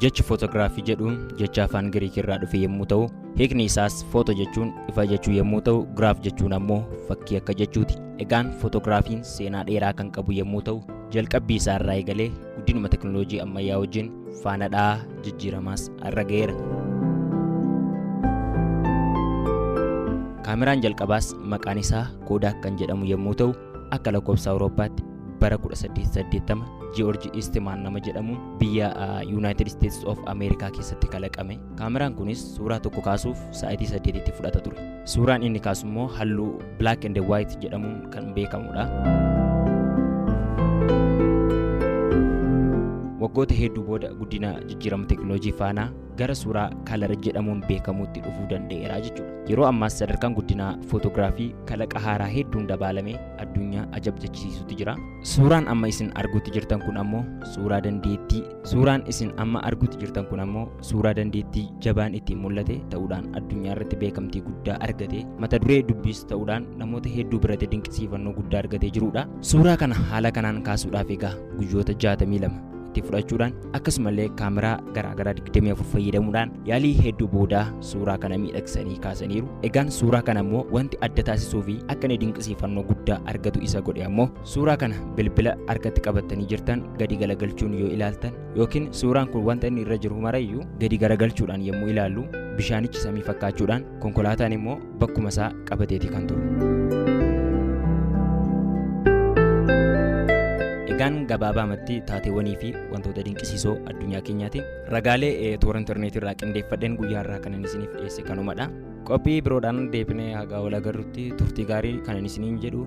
Jechi footogiraafii jedhu jecha afaan Giriikii irraa dhufe yommuu ta'u, hiikni isaas footo jechuun ifa jechuu yommuu ta'u, giraaf jechuun ammoo fakkii akka jechuuti. Egaan footogiraafiin seenaa dheeraa kan qabu yommuu ta'u, jalqabbii isaa irraa eegalee guddinuma teknooloojii ammayyaa wajjin faana dha'aa jijjiiramaas irra ga'eera. Kaameraan jalqabaas maqaan isaa Koodaak kan jedhamu yommuu ta'u, Akka lakkoofsa Awurooppaatti bara 1880 Ji'oorji Istimaan nama jedhamuun biyya Yuunaayitid Isteetis of Ameerikaa keessatti kalaqame. Kaameraan kunis suuraa tokko kaasuuf sa'aatii saddeetitti fudhata ture. Suuraan inni kaasu immoo halluu Black and White jedhamuun kan beekamudha. Waggoota hedduu booda guddina jijjiirama teekinooloojii faanaa gara suuraa kalar jedhamuun beekamuutti dhufuu danda'eera jechuudha. Yeroo ammaas sadarkaan guddinaa footogiraafii kalaqa haaraa hedduun dabaalamee addunyaa ajab jechisiisutti jira. Suuraan amma isin arguutti jirtan kun ammoo suuraa dandeettii suuraan isin amma arguutti jirtan kun ammoo suuraa dandeettii jabaan ittiin mul'ate ta'uudhaan addunyaa irratti beekamtii guddaa argate mata duree dubbiis ta'uudhaan namoota hedduu biratti dinqisiifannoo guddaa argatee jirudha. Suuraa kana haala kanaan kaasuudhaaf egaa guyyoota 62 itti fudhachuudhaan akkasumallee kaameraa garaagaraa 24 fayyadamuudhaan yaalii hedduu booda suuraa kana miidhagsanii kaasaniiru. Egaan suuraa kana immoo wanti adda taasisuu fi akka inni dinqisiifannoo guddaa argatu isa godhe ammoo suuraa kana bilbila harkatti qabattanii jirtan gadi galagalchuun yoo ilaaltan yookiin suuraan kun wanta inni irra jiru marayyuu gadi garagalchuudhaan yommuu ilaallu bishaanichi samii fakkaachuudhaan konkolaataan immoo bakkuma isaa qabateeti kan turu. Egaan gabaabaamatti taateewwanii fi wantoota dinqisiisoo addunyaa keenyaatiin ragaalee eh, toora intarneetii irraa qindeeffadheen guyyaa irraa kanan isiniif dhiyeesse kanumadha. Qophii biroodhaan deebinee hagaa wal agarrutti turtii gaarii kanan isiniin jedhu